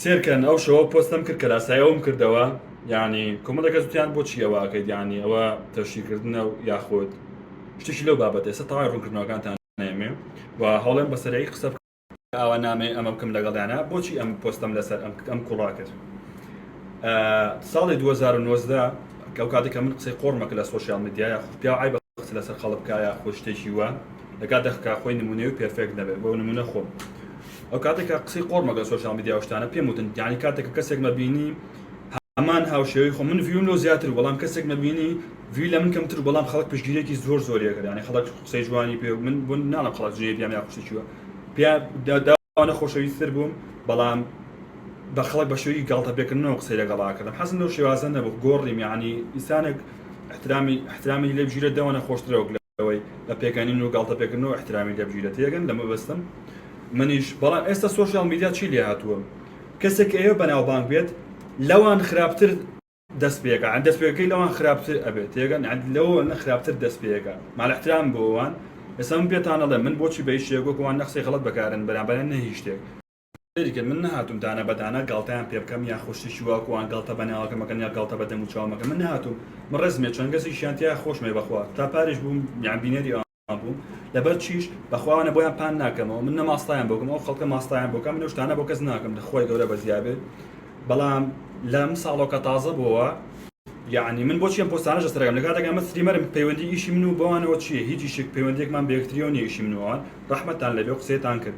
سێر کەن ئەو شەوە پۆستەم کرد کە لاسای ئەوم کردەوە یعنی کۆمەڵە کەس وتیان بۆچی ئەوە ئەکەیت یعنی ئەوە تەشیکردنە و یاخود شتێکی لەو بابەتە ئێستا تەواوی ڕوونکردنەوەکانتان نامێ و هەوڵێن بە سەرەی قسە ئاوا نامێ ئەمە بکەم لەگەڵیانە بۆچی ئەم پۆستەم لەسەر ئەم ئەم کوڕا کرد ساڵی 2019 ئەو کاتێک کە من قسەی قۆڕمەکە لە سۆشیال میدیا یاخود پیا عیب قسە لەسەر خەڵک بکە یاخود شتێکی وە لەکاتێک کە خۆی نمونەی و پێرفێکت نەبێت بۆ نمونە خۆم ئەوکاتەی کە قسەی قۆڕم لەگەڵ سۆشیال میدیا و شتانە پێم وتن یانی کاتێک کە کەسێک مە بینی هەمان هاوشێوەی خۆم من ڤیوم لۆ زیاتر بەڵام کەسێک مە بینی ڤیوی لە من کەمتر بەڵام خەڵک پشگیرێکی زۆر زۆری ئەکرد یانی خەڵک قسەی جوانی پێ و من بوون ناڵم خەڵک جنێوی پیام یا قسەی چیوە پیا دا ئەوانە خۆشەویستر بووم بەڵام بە خەڵک بە شێوەی گاڵتەپێکردنەوە قسەی لەگەڵ ئاکردم حەزم لەو شێوازە نەبوو گۆڕیم یانی ئینسانێک احترامی احترامی لێ بگیرێت دەوانە خۆشترە وەک لە ئەوەی لە پێگەنین و گاڵتە پێکردن و ئیحترامی لێ بگیرێ تێگەن لە مەبەستم منیش بەڵام ئێستا سۆشیاڵ میدیا چی لێ هاتووە کەسێک ئێوە بەناوبانگ بێت لەوان خراپتر دەست پێکە عن دەست پێکەکەی لەوان خراپتر ئەبێت تێگەن عن لەوە نە خراپتر دەست پێکە مال احترام بۆوان ئێستا من پێتان ئەڵێم من بۆچی بە هیچ شتێک وەکوان نە قسەی غەڵەت بەکارن بەرامبەریان نە هیچ شتێک سەیری کە من نەهاتووم دانە بە دانە گاڵتەیان پێ بکەم یاخود شتێکی وا کوان گاڵتە بە ناوەکەم مەکەن یا گاڵتە بە دەم و چاوم مەکەن من نەهاتووم من ڕێزم لێ چەند کەسێکیان تیا خۆشم وێ بەخوا تا پاریش بووم یان بینەری ئەوان بووم لەبەر چیش بەخوا ئەوانە بۆیان پان ناکەمەوە من نە ماستایان بۆ بکەم ئەو خەڵکە ماستایان بۆ بکەم من ئەو شتانە بۆ کەس ناکەم لە خوای گەورە بەزیا بێت بەڵام لەم ساڵەوە کە تازە بووە یعنی من بۆچی ئەم پۆستانەش لەسەرەکەم لە کاتێک ئەمە ستریمەرم پەیوەندی ئیشی من و بەوانەوە چییە هیچ ئیشێک پەیوەندیەکمان بە یەکتریەوە نییە ئیشی من و ئەوان ڕەحمەتتان لەبێ و قسەتان کرد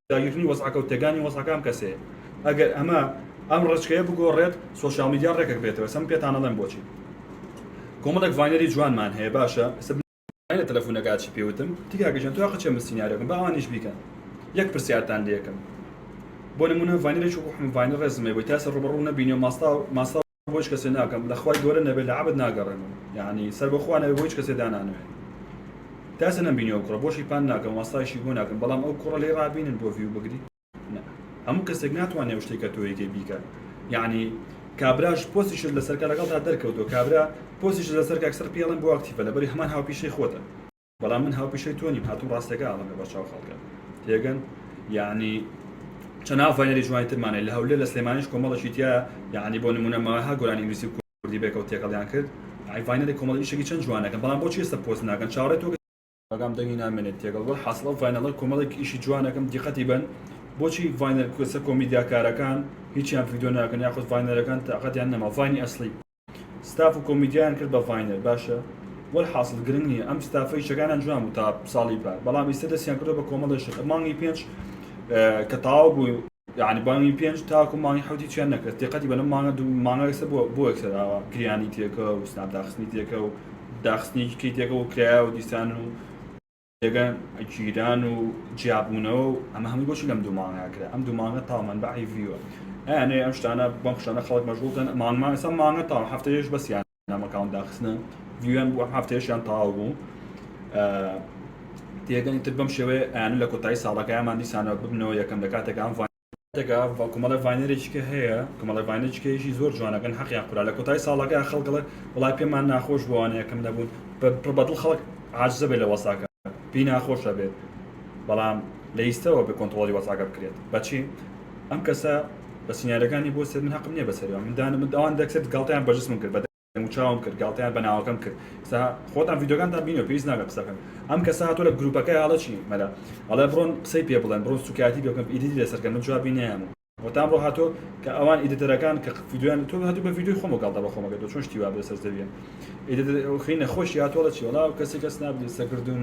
داگیرکردنی وەزعەکە و تێکدانی وەزعەکە ئەم کەسەیە ئەگەر ئەمە ئەم ڕێچکەیە بگۆڕێت سۆشیاڵ میدیا ڕێکەک بێتەوە ئێستا من پێتان ئەڵێم بۆچی کۆمەڵێک ڤاینەری جوانمان هەیە باشە ئێستا بنێن لە تەلەفونەکە چی پێ وتم وتی کاکە گیان تۆ قەچێ من سیناریۆکەم با ئەوانیش بیکەن یەک پرسیارتان لێ یەکەم بۆ نموونە ڤاینەرێکی وەکو حمڤاینەر ڕێزم هەیە بۆی تا ئێستا ڕووبەڕوو نەبینیوە ماستاو ماستاو بۆ هیچ کەسێ ناکەم لە خوای گەورە نەبێت لە عەبد ناگەڕێمەوە یعنی سەر بەخوا نەبێت بۆ هیچ کەسێ دانانەوێت تاسە نەمبینی ئەو کوڕە بۆشی پان ناکەم واسایشی بۆ ناکەم بەڵام ئەو کوڕە لێ ڕابینن بۆ ڤیو بگری هەموو کەسێک ناتوانێ ئەو شتێکە تۆ یەکێ بیکە یعنی کابراش پۆسیشت لەسەرکە لەگەڵ تا دەرکەوتەوە کابرا پۆسیش لەسەر کاکسەر پێڵم بۆ ئەکتیفە لەبەری هەمان هاوپیشەی خۆتە بەڵام من هاوپیشەی تۆ نیم هاتووم ڕاستەکە ئەڵێم لەبەرچاو خەڵکە تێگەن یانی چەند ئافاینەری جوانی ترمان هەیە لە هەولێر لە سلێمانیش کۆمەڵێکی تیایە یانی بۆ نموونە ماها گۆرانی ئینگلیزی و کوردی بێکەوە تێکەڵیان کرد ئایڤاینەری کۆمەڵی ئیشێکی چەند جوانەکەن بەڵام بۆچی ئێستا پۆست ناکەن چاوەڕێ تۆ ئاگام دەنگی نامێنێت تێگەڵ وەلحاسڵ ئەو ڤاینەڵە کۆمەڵێک ئیشی جوانەکەم دیقەتی بەن بۆچی ڤاینەر کوێسە کۆمیدیاکارەکان هیچیان ڤیدیۆ ناکەن یاخود ڤاینەرەکان تاقەتیان نەما ڤاینی ئەسڵی ستاف و کۆمیدیان کرد بە ڤاینەر باشە وەلحاسڵ گرنگ نییە ئەم ستافە ئیشەکانیان جوان بوو تا ساڵی پار بەڵام ئیستا دەستیان کردو بە کۆمەڵی شت مانگی پێنج کە تاوا بوو یعنی بانگی پێنج تاکو مانگی حوتی چیان نەکرد دقەتی بەنە مانگە دوو مانگە ئێستا بۆ بۆ ئەکسراوە گریانی تێکە و سناپ داخستنی تێکە و داخستنی کەی تێکە و کرایە و دیسان و جێگە گیران و جیابوونەوە و ئەمە هەمووی بۆچی لەم دوو مانگە کرا ئەم دوو مانگە تاڵ مەنبەعی ڤیوە ئەیانێ ئەم شتانە بەم شتانە خەڵک مەشغوڵ کەن مانگمان ئێستا مانگە تاڵ هەفتەیەش بەسیان نامەکان داخستنە ڤیویان بووە هەفتەیەشیان تاو بوو تێگەنی تر بەم شێوەیە ئەیانە لە کۆتایی ساڵەکەیانمان دیسانەوە ببنەوە یەکەم لە کاتێکان دەگا و کۆمەڵێ ڤاینەرێکی کە هەیە کۆمەڵێ ڤاینەرێکی کە یشی زۆر جوان ئەکەن حەقیان قورا لە کۆتایی ساڵەکە خەڵک ئەڵێ وەڵای پێمان ناخۆش بوو ئەوانەیە کەم نەبوون بە پڕ بەدڵ خەڵک عاجزە بێ لە وەساکە پێی ناخۆشە بێت بەڵام لە ئیستەوە بێ کۆنتڕۆڵی وەساکە بکرێت بەچی ئەم کەسە بە سیناریۆکانی بۆ سێت من هەقم نییە بەسەری ئەوان من دانم ئەوان دەکسێت گاڵتەیان بە جسمم کرد بە دەموچاوم کرد گاڵتەیان بە ناوەکەم کرد قسە خۆتان ڤیدیۆکانتان بینیوە پێویست ناکە قسەکەم ئەم کەسە هاتووە لە گروپەکەی هەڵە چی مەلا ئەڵێ بڕۆن قسەی پێ بڵێن بڕۆن سوکایەتی پێ بکەن ئیدیتی لەسەر کەن من جوابی نەیامم و تام ڕۆ هاتۆ کە ئەوان ئیدیتەرەکان کە ڤیدیۆیان تۆ هاتوو بە ڤیدیۆی خۆمە گاڵتە بە خۆمەکە تۆ چۆن شتی وا بێ سەر زەویە ئیدیتەر خینە خۆشی هاتووە چی وەڵا کەسی کەس نابدی سەکردوم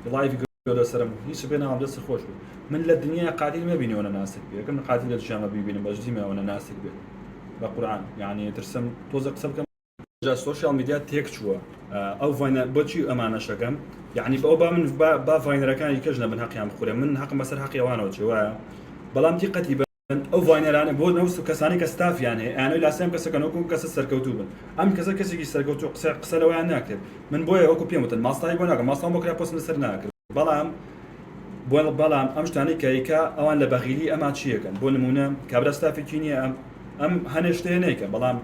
و لایڤی دە سرم هیچ بێ ناوم دەست خۆش بێ من لە دنیا قاتیل مەبینەوە نە ناسک بێ یەکەم قاتیل لە دژامە بیبینم بەس دیمەوە نە ناسک بێ بە قورعان یعنی ترسم تۆزە قسە بکەم جا سۆشیال میدیا تێک چووە ئەو ڤاینە بۆچی ئەمانەشەکەم یعنی بەو با من با ڤاینەرەکانی کەش نەبن هەقیان بخورێ من هەقم بەسەر هەقیێوانەوە چێ وایە بەڵام دیقەتی بە ئەو ڤاینەرانە بۆ نەوس و کەسانی کە ستافیان هەیە ئەیانەوێت لاسای ئەم کەسەکەن وەکو ئەم کەسە سەرکەوتوو بن ئەم کەسە کەسێکی سەرکەوتوو قسە قسە لەوەیان ناکرێت من بۆیە وەکو پێم وتن ماستاوی بۆ ناکەم ماستاوم بۆ کرا پۆستم لەسەر ناکرد بەڵام بۆ بەڵام ئەم شتانەی کایکا ئەوان لە بەغیلی ئەما چیەکەن بۆ نمونە کابرا ستافێکی نییە ئەم ئەم هەنێ شتەیە نەیکە بەڵام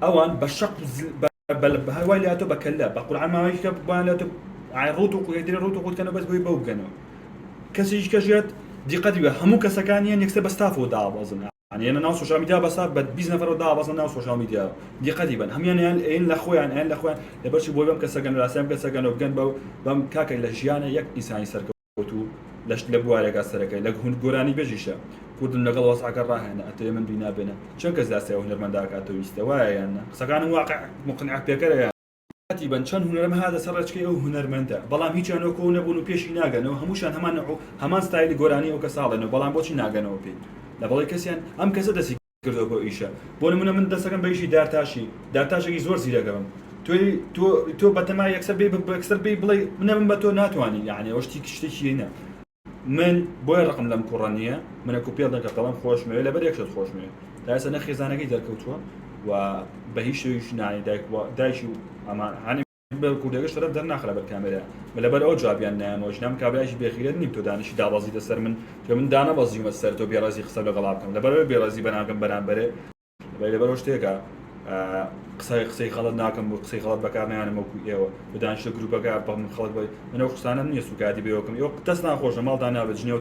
ئەوان بە شەق و زل بە بە لە بەهای وای لاتۆ بە کەللا بە قورعان ماوەیەکی کە بۆیان لاتۆ ئای ڕوت و قوێدرێ ڕوت و قوتکەنە بەس بۆی بەو بگەنەوە کەسیش کەژێت دیقەتی بە هەموو کەسەکان یەن یەکسەر بە ستافەوە دابەزن یان یەنە ناو سۆشیال میدیا بە ستاف بە 20 نەفەرەوە دابەزن ناو سۆشیال میدیا دیقەتی بن هەمیان یان ئەین لە خۆیان ئەین لە خۆیان لەبەرچی بۆی بەم کەسەگەن لاسیان کەسەگەن و بگەن بەو بەم کاکە لە ژیانە یەک ئینسانی سەرکەوت وتو لەشت لە بوارێگا سەرەکەی لەک هوند گۆرانی بێژیشە کوردم لەگەڵ وەزعەکە ڕاهێنە ئەتەوێ من بینا بێنە چەن کەس لە ئاسیاوە هونەرمەندە ئەکا تۆ ویستە وایە یان نا قسەکانم واقع موقنع پێکەرە یان ساتی بن چەن هونەرم هاتە سەر ڕێچکەی ئەو هونەرمەندە بەڵام هیچیان وەکو ئەو نەبون و پێشی ناگەنەوە هەموشان هەمان نەوعو هەمان ستایلی گۆرانی ئەو کەسە ئەڵێن و بەڵام بۆچی ناگەنەوە پێی لەبەڵی کەسیان ئەم کەسە دەسی کردوە بۆ ئیشە بۆ نمونە من دەستەکەم بە ئیشی دارتاشی دارتاشێکی زۆر زیرەکەبم تۆ تۆ تۆ بەتەما یەکسەر بی بەکسەر بی بڵێ منە من بە تۆ ناتوانانی یعنی ئەوە شتی شتێکیینە من بۆیە ڕقم لەم کوڕە نییە منە کو پێڵ دەکە بەڵام خۆشمەوێ لە بەرێکشت خۆشمێ تاسە نە خێزانەکەی دەرکەوتووە و بە هیچ شویش نانی دایک دایکی و ئەمان هاانی بە کوردەکەش شەرەف دەرناخە لەبەر کامێرا من لەبەر ئەوە جوابیان نایەمەوە ژنم کابرایەکی بێغیرەت نیم تۆ دانیشی دابەزیتە سەر من تۆ من دانەبەزیومە سەر تۆ بێڕێزی قسەم لەگەڵا بکەم لەبەر ئەوەی بێڕێزی بەرامبەرم بەرامبەرێ بەی لەبەر ئەو شتێکە قسەی قسەی غەڵەت ناکەم بۆ قسەی غەڵەت بەکار نایەنم وەکو ئێوە بە دانیشتە گرووپەکە بە من خەڵک بە منەو قسانم نییە سوکایەتی بەوەکەم ئێوە دەستناخۆش لە ماڵدا نابێت جنێو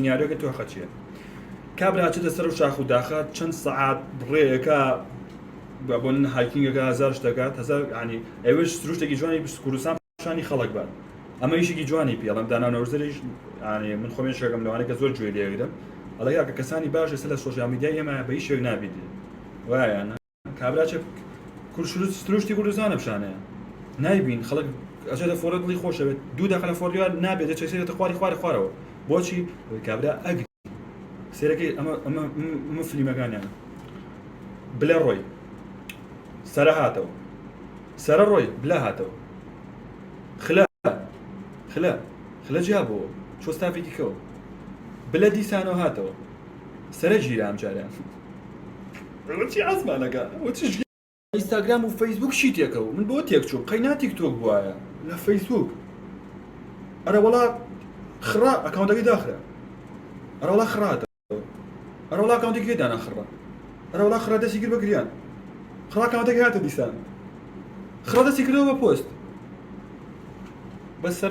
سیناریۆکە تۆخە چیە کابرا چێتە سەر و شاخ و داخە چەند سەعات ڕێەکە بۆن هاکینگەکە هزار شتەکات هزار ینی ئەوش سروشتێکی جوانی کوردستان شانی خەڵک بات ئەمە یشێکی جوانی پێڵم داناونەوزریش من خۆێن شەکەم لەوانەکە زۆر جوێ لێگرم ئەڵەیە کە کەسانی باش لەسەر لە سۆشیا میدیای ئێمە بە هیچ شوێک نابیت وایە کابرا چ کورد شروست سروشتی کوردستان لەم شانەیە نایبین خەڵک ئەچێتە فۆڕێ دڵی خۆشەوێت دوو دەقە لە فۆڕیوار نابێت دەچێت سێرێتە خواری خوارە خوارەوە بۆچی کابرا ئەگری سێرەکەی ئەمە ئەمە ئەمە فلیمەکانیان بلە ڕۆی سەرە هاتەوە سەرە ڕۆی بلا هاتەوە خلا خلا خلە جیا بۆەوە چۆ ستافێکی کەەوە بلە دیسانەوە هاتەوە سەرە گیرە ئەم جارە ئیستاگرام و فەیسبووک چی تێکە و من بۆ تێک چووم قەینا تیک تۆک بوایە لە فەیسبووک ئەرەوەڵا خڕە ئەکاونتەکەی داخرا ئەرەوەڵا خڕاتە ئەرەوەڵا ئەکاونتی گوێ دانا خڕە ئەرەوەڵا خڕە دەستی کرد بە گریان خڕا ئەکاونتەکەی هاتە دیسان خڕە دەستی کردەوە بە پۆست بەسەر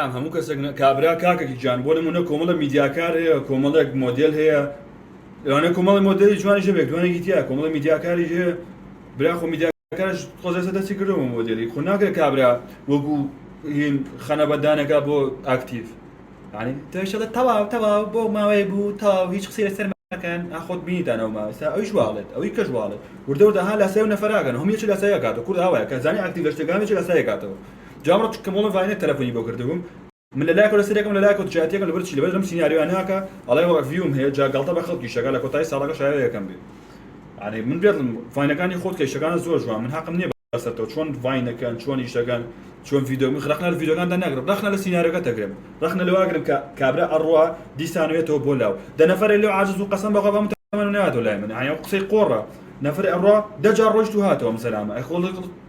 برام هەموو کەسێک نە کابرا کاکەکی جان بۆ نمونە کۆمەڵە میدیاکار هەیە کۆمەڵێک مۆدل هەیە لەوانە کۆمەڵی مۆدلی جوانی ژە بێک دوانێکی تیا کۆمەڵە میدیاکاری هەیە برا خۆ میدیاکارش خۆزێسە دەستی کردەوە مۆدلی خۆ ناکرێت کابرا وەکو هین خەنە بەدانەکە بۆ ئاکتیڤ ینی تۆشەڵە تەواو تەواو بۆ ماوەیە بوو تاو هیچ قسەی لەسەر مەکەن ئاخۆت بینیدانەوە ماوەستا ئەویش واڵێت ئەوی کەش واڵێت وردەوردە ها لاسای و نەفراگەن هەم یەکی لاسایەکاتەوە کورد ئاوایە کە زانانی ئاکتیڤ لە شتەکانی چ لاسایەکاتەوە جواب ڕەت چونکە مۆڵەڤای نەک تەلەفۆنی بۆ کردبووم. من لە لایەکەوە لەسەریەکەم لە لایەکەوە دژایەتیەکەم لەبەر چی لەبەر لەم سیناریۆیە ناکا ئەڵێ وە ڤیوم هەیە جا گاڵتە بە خەڵکیش ئەکا لە کۆتایی ساڵەکە شایەوە یەکەم بی یانی من بێت ڤاینەکانی خۆت کە ئیشەکانت زۆر جوان من هەقم نیە بەسەرتەوە چۆن ڤاینەکەن چۆن ئیشەکەن چۆن ڤیدۆ من ڕەخنە لە ڤیدۆکانتان ناگرم ڕەخنە لە سیناریۆکە دەگرم ڕەخنە لەوە ئەگرم کە کابرا ئەڕوا دیسان وێتەوە بۆ لاو دە نەفەرێ لێو عاجز بوو قەسەم بە خوا بە هەموو تەمەنم نەهاتەوە لای من ئەیان قسەی قۆڕە نەفەرێ ئەڕوا دە جار ڕۆیشت و هاتەوە ئەم زەلامە ئەی خۆ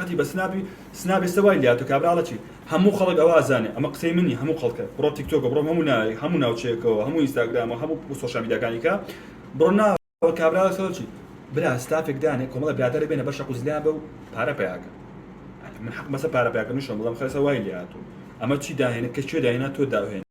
قەتی بە سناپی سناپ ئێستا وای لێهاتوە کابرا ئەڵێ چی هەموو خەڵک ئەوە ئەزانێ ئەمە قسەی من نیە هەموو خەڵکە بڕۆ تیکتۆکە بڕۆ هەموو ناوێک هەموو ناوچەیەکەوە هەموو ئینستاگرامەوە هەموو سۆشیال میدیاکانی کە بڕۆ نا ئەوە کابرا ئەڵێ خەڵک چی برا سناپێک دانێ کۆمەڵە برادەرێ بێنە بەشە قوزلیان بە و پارە پەیا کە من حەقمە سەر پارە پەیا کردنیشم بڵێم خەسە وای لێهاتوو ئەمە چی داهێنە کە کوێ داهێنا تۆ داهێنی.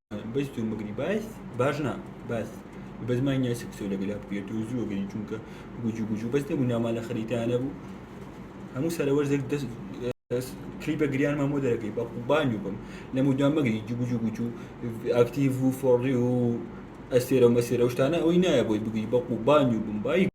بەس تۆ مگری باس باش نا باس بەس ما نیاسی قسە لەگەلا بکرێت تۆ زووە گەری چونکە گوجو گوجو بەس نەبوو نامان لە خەریتانە بوو هەموو سەرەوەش دەک دەست کلی بە گریان مامۆ دەرەکەی بە قوبانی بم لە مودام مەگری جوگو جوگو جو ئاکتیڤ و فۆڕی و ئەسێرە و مەسێرە شتانە ئەوەی نایە بۆی بگری بە قوبانی بم بای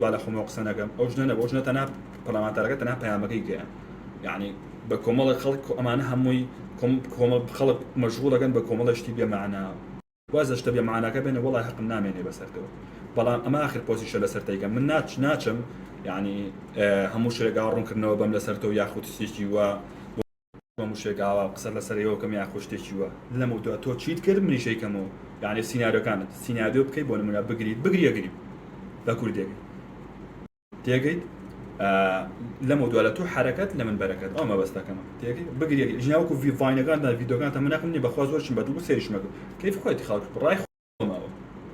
با لە خۆمەوە قسە نەکەم ئەو ژنە نەبوو ئەو ژنە تەنها پەرلەمانتارەکە تەنها پەیامەکەی گەیاند یەعنی بە کۆمەڵێک خەڵک کۆ ئەمانە هەمووی کۆم کۆمەڵ خەڵک مەشغوڵەکەن بە کۆمەڵێ شتی بێ مەعنا واز لە شتە بێ مەعناکە بێنە وەڵای هەقم نامێنێ بەسەرتەوە بەڵام ئەمە ئاخر پۆستیشە لەسەر دەیکەم من ناچ ناچم یەعنی هەموو شرێکا ڕوونکردنەوە بەم لەسەر تۆ یاخود شتێکی وا بۆ مشێک ئاوا قسە لەسەر ئێوە بکەم یاخود شتێکی وا لەم و دوا تۆ چیت کرد منیش ئەیکەمەوە یانی سیناریۆکانت سیناریۆ بکەیت بۆ نمونە بگریت بگری ئەگری بە کوردێک تێگەیت لەم و دوا لە تۆ حرەکەت لە من بەرەکەت ئەو مەبەستەکەمە تێگەی بگری ژناوەکو ڤیڤاینەکان دا ڤیدۆکان تەمناقم نیە بەخوا زۆر چم بەدڵ بوو سێریشمەکرد کەیف خۆیت خەڵک ڕای ماوە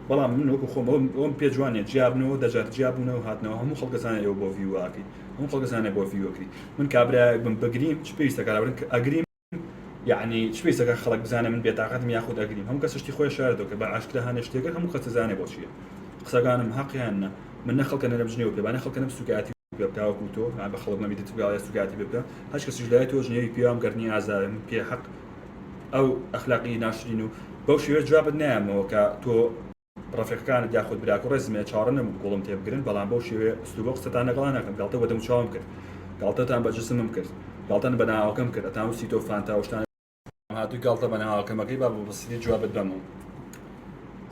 بەڵام من وەکو خۆم ئەوم پێ جوانە جیابنەوە دەجار جیابوونەوە هاتنەوە هەموو خەڵکەزانە ئێوە بۆ ڤیواکەی هەموو خەڵکەزانە بۆ ڤیوەکری من کابراایەک بم بگریم چ پێویستە کاربن کە ئەگریم یعنی چ پێویستەکە خەڵک بزانە من بێتاقەتم یاخود ئەگریم هەموو کەسشتی خۆی شاردەوە کە بە ئاشکرا هەنە شتێکە هەموو کەس زانێ بۆ چیە قسەکانم هەقیان نە من نە خەڵکە نەرم جنێو پێ بانە خەڵکەم سوکاتی بکاوەکو تۆ بە خەڵک مەبیتت بگاڵێ سوکاتی بکە هەچ کەسیش لای تۆ جنێوی پێوام گەرنی ئازارم پێ حەق ئەو ئەخلاقی ناشرین و بەو شێوەیە جوابت نایەمەوە کە تۆ ڕفیقەکانت یاخود براکە ڕێزم لێ چاڕە نەبوو گوڵم تێ بگرن بەڵام بەو شێوێ سلوبە قسەتان لەگەڵا ناکەم گاڵتە بە دەم چاوم کرد گاڵتەتان بە جسمم کرد گاڵتەن بە ناوەکەم کرد ئەتان وسی تۆ فانتا شتان هاتوو گاڵتە بە ناوەکەمەکەی با بەبسیدی جوابت بەمەوە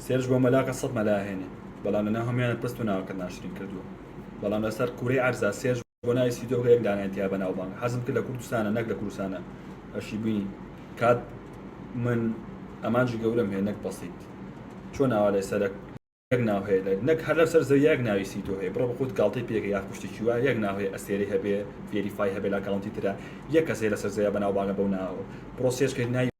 سێرش بۆ مەلاکە سەد مەلاهێنێ بەڵام لە ناو هەمیانە پست و ناوەکەت ناشرین کردووە بەڵام لەسەر کوورەی عەرزا سێرش بۆ ناوی سپی دۆکە یەک دانەیان تیا بەناوبانگە حەزم کرد لە کوردستانە نەک لە کوردستانە ئەشی بینی کات من ئەمانجی گەورەم هەیە نەک بەسیت چۆن ناوا لە سەرک یەک ناو هەیە لە نەک هەر لە سەر زەوی یەک ناوی سی تۆ هەیە بڕە بە خۆت گاڵتەی پێکە یا پشتێکی وایە یەک ناو هەیە ئەسێری هەبێ فێریفای هەبێ لە کاونتی ترە یەک کەسێ لەسەر زەوی بەناوبانگە بەو ناوە پرۆسێچ کرد ناوی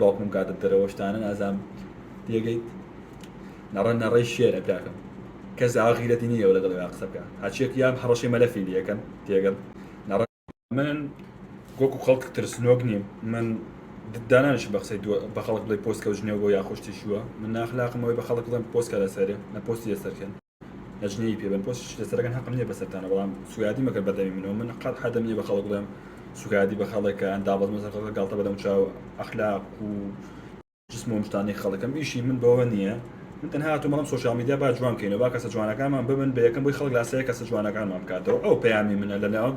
باوکم کاتت دەرەوە شتانە نازام تێگەیت نەڕە نەڕەی شێرە براکەم کەس داوا غیرەتی نییە و لەگەڵ قسە بکە هەرچێک یان هەڕەشەی مەلەفی لەکەن تێگەن نەڕە من وەکو خەڵک ترسنۆک نیم من دانانش بە قسەی بە خەڵک بڵێ پۆست کەوتنێەوە بۆ یاخۆشتیشووە من ناخلاقمەوەی بە خەڵک بڵێن پۆستکە لەسەرێ نە پۆستی لەسەرکەن ئەجنەیی پێ بەن پۆستی لەسەر ئەگەن هەقم نیە بەسەرتانە بەڵام سوگایەتی مەکەن بە دەمی منەوە من قەت حەدم نیە بە خەڵک بڵێم سوگایەتی بە خەڵک کە ئەن دابەزمە سەر خەڵک گاڵتە بە دەموچاو ئەخلاق و جسم و مشتانەی خەڵکم ئیشی من بەوە نییە من تەنها هاتووم بەڵام سۆشیال میدیا با جوان کەینەوە با کەسە جوانەکانمان ببن بە یەکەم بۆی خەڵک لاسایی کەسە جوانەکانمان بکاتەوە ئەو پەیامی منە لەناو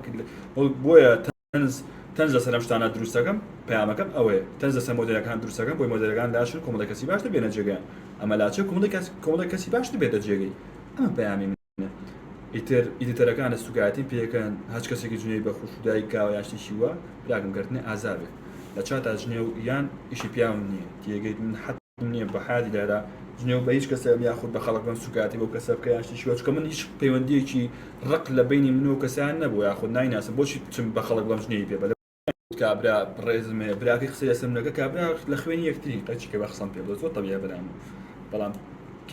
بۆیە تەنز تەنز لەسەر ئەم شتانە دروست دەکەم پەیامەکەم ئەوەیە تەنز لەسەر مۆدێلەکان دروست دەکەم بۆی مۆدێلەکان لاشن کۆمەڵێک کەسی باشتر بێنە جێگەیان ئەمە لاچە کۆمەڵێک کەس کۆمەڵێک کەسی باشتر بێتە جێگەی ئەمە پەیامی منە ئیتر ئیدیتەرەکانە سوکایەتیم پێکەن هەچ کەسێکی جنێوی بە خوشک و دایک کاوە یان شتێکی وا براکەم گەر تنە ئازا بێت لە چاتا جنێو یان ئیشی پیاوم نییە تێگەیت من حە نیە بە حیاتی دایدا جنێو بە هیچ کەسە یاخود بە خەڵک بم سوکایەتی بۆ کەسە بکە یان شتێکی وە چونکە من هیچ پەیوەندییەکی ڕق لە بەینی من و کەسیان نەبوو یاخود نایناسم بۆچی بچم بە خەڵک بڵێم جنێوی پێ بە کابرا ڕێزم هەیە براکەی قسەی لەسەر منەکە کابرا لە خوێنی یەکترین قەچی کە بە قسەم پێ بڵێ زۆر تەبیعیە بەلام بەڵام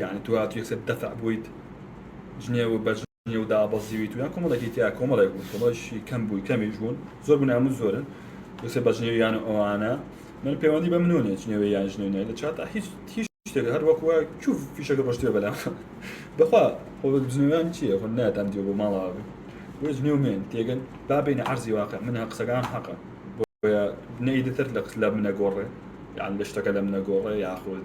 یانی تو هاتووی یەکسەر دەفع بوویت جنێو بە نێو دابەزیوی تویان کۆمەڵێکی تیا کۆمەڵێک بوو کۆمەڵێکی کەم بووی کەمیش بوون زۆر بوون هەموو زۆرن دوسێ بە جنێویان و ئەوانە من پەیوەندی بە منۆنێ جنێوی یان جنێونای لە چاتا هیچ هیچ شتێک هەر وەکوە چوو فیشەکە ڕۆشتێ بەلا بەخوا خۆ جنێویان چیە خۆ ناتان دیێ بۆ ماڵەوە بێ بۆ جنێومێن تێگەن بابین عەرزی واقع من قسەکان حەقە بۆیە نەیدتر لە قس لە منە گۆڕێ یان لە شتەکە لە منە گۆڕێ یاخود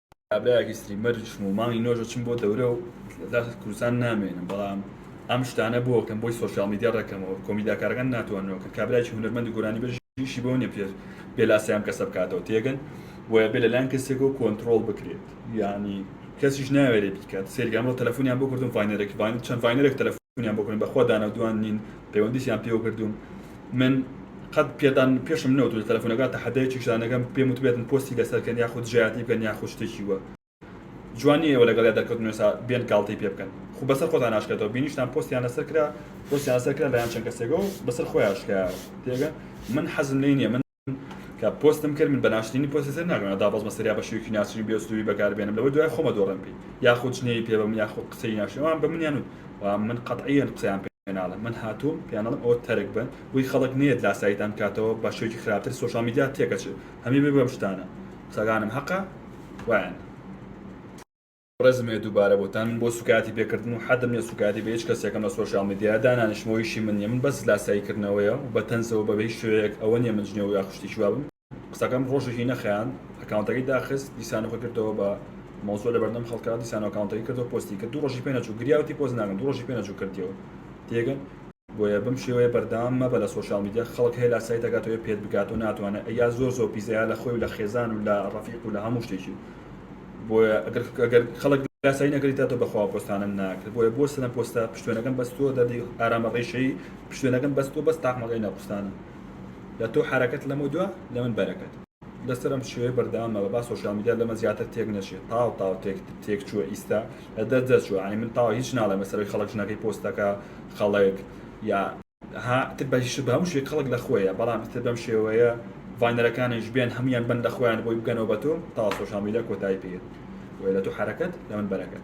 کابرایەکی ستریمەر چووم و مانگی نۆش ئەچم بۆ دەورە و لە کوردستان نامێنم بەڵام ئەم شتانە بۆ کەم بۆی سۆشیاڵ میدیا ڕێکەمەوە کۆمیداکارەکان ناتواننەوە کە کابرایکی هونەرمەند و گۆرانیبێژ ئیشی بەوە نیە پێ بێ لاسای ئەم کەسە بکاتەوە تێگەن بۆیە بێ لەلایەن کەسێکەوە کۆنترۆڵ بکرێت یانی کەسیش ناوێرێ بیکات سەیرکە ئەمڕۆ تەلەفۆنیان بۆ کردم ڤاینەرێک ڤاین چەند ڤاینەرێک تەلەفۆنیان بۆ کردم بەخوا دانەودوان نین پەیوەندیشیان پێوە کردووم من قەت پێتان پێشم نەوتوو لە تەلەفونەکە تەحەدایەکیش دانەکەم پێم وتبێتن پۆستی لەسەر کەن یاخود جیاتی بکەن یاخود شتێکی وە جوان نیە ئێوە لەگەڵیا دەرکەوتن وێسا بێن گاڵتەی پێ بکەن خو بەسەر خۆتان ناشکێتەوە بینیشتان پۆستیان لەسەر کرا پۆستیان لەسەر کرا لایەن چەند کەسێکەوە بەسەر خۆیان شکایەوە تێگەن من حەزم لێی نیە من کە پۆستم کرد من بە ناشرینی پۆستی سەر ناگەم ئەدا بەزمە سەریا بە شێوەیەکی ناشرین بێ ئوسلوبی بەکار بێنم لەوەی دوای خۆمە دۆڕێم پێی یاخود جنێوی پێ بەم یاخود قسەی ناشرین ئەوان بە منیان و و من قەتعیەن قسەیان پێ ناڵێم من هاتووم پێیان دەڵێم ئەوە تەرک بن بۆی خەڵک نەیەت لاساییتان بکاتەوە بە شێوەیەکی خراپتر سۆشیاڵ میدیا تێکەچێت هەمووی بێ بەم شتانە قسەکانم هەقە وایان ڕێزم هەیە دووبارە بۆتان بۆ سوکایەتی پێکردن و حەدم نیە سوکایەتی بە هیچ کەسێکم لە سۆشیال میدیا دانانیشم ئەوە ئیشی من نیە من بەس لاسایی کردنەوەیە و بە تەنزەوە بە هیچ شێوەیەک ئەوە نیە من جنێو یاخود شتێکی وا بم قسەکەم ڕۆژێکی نەخایاند ئەکاونتەکەی داخست دیسانەوە خۆی کردەوە بە مەوزوع لە بەردەم خەڵکا دیسانەوە ئەکاونتەکەی کردەوە پۆستی کرد دوو ڕۆژی پێ نەچوو گریا وتی پۆست ناکەم دوو ڕۆژی پێ نەچوو کردیەوە تێگەن بۆیە بەم شێوەیە بەردەوام مەبە لە سۆشیال میدیا خەڵک هەیە لاسایی دەکات و هەیە پێت بگات و ناتوانێت ئەیا زۆر زۆر پیسە یا لە خۆی و لە خێزان و لە ڕەفیق و لە هەموو شتێکی بۆیە ئەگەر ئەگەر خەڵک لاسایی نەگریتا تۆ بەخوا پۆستانم ناکرد بۆیە بۆ سنە پۆستە پشتێنەکەم بەس تۆ دەردی ئارامە ڕیشەی پشتێنەکەم بەس تۆ بەس تاقمەکەی نەقوستانم لە تۆ حرەکەت لەمە دوا لە من بەرەکەت لەسەر ئەم شێوەیە بەردەوامە بە با سۆشال میدیا لەمە زیاتر تێک نەچێت تاو تاو تێک تێک چووە ئیستا لە دەر دەرچوە ئەنی من تاو هیچ ناڵێ مەسەرەوەی خەڵک ژنەکەی پۆستەکە خەڵک یا ها تر بەهیش بە هەموو شێک خەڵک لە خۆیە بەڵام تر بەم شێوەیە ڤانەرەکانیش بێن هەمویان بن لە خۆیان بۆی بگەنەوە بە تۆ تا سۆشال میدیا کۆتایی پێێت وێ لە تۆ حرەکەت لە من بەرەکەت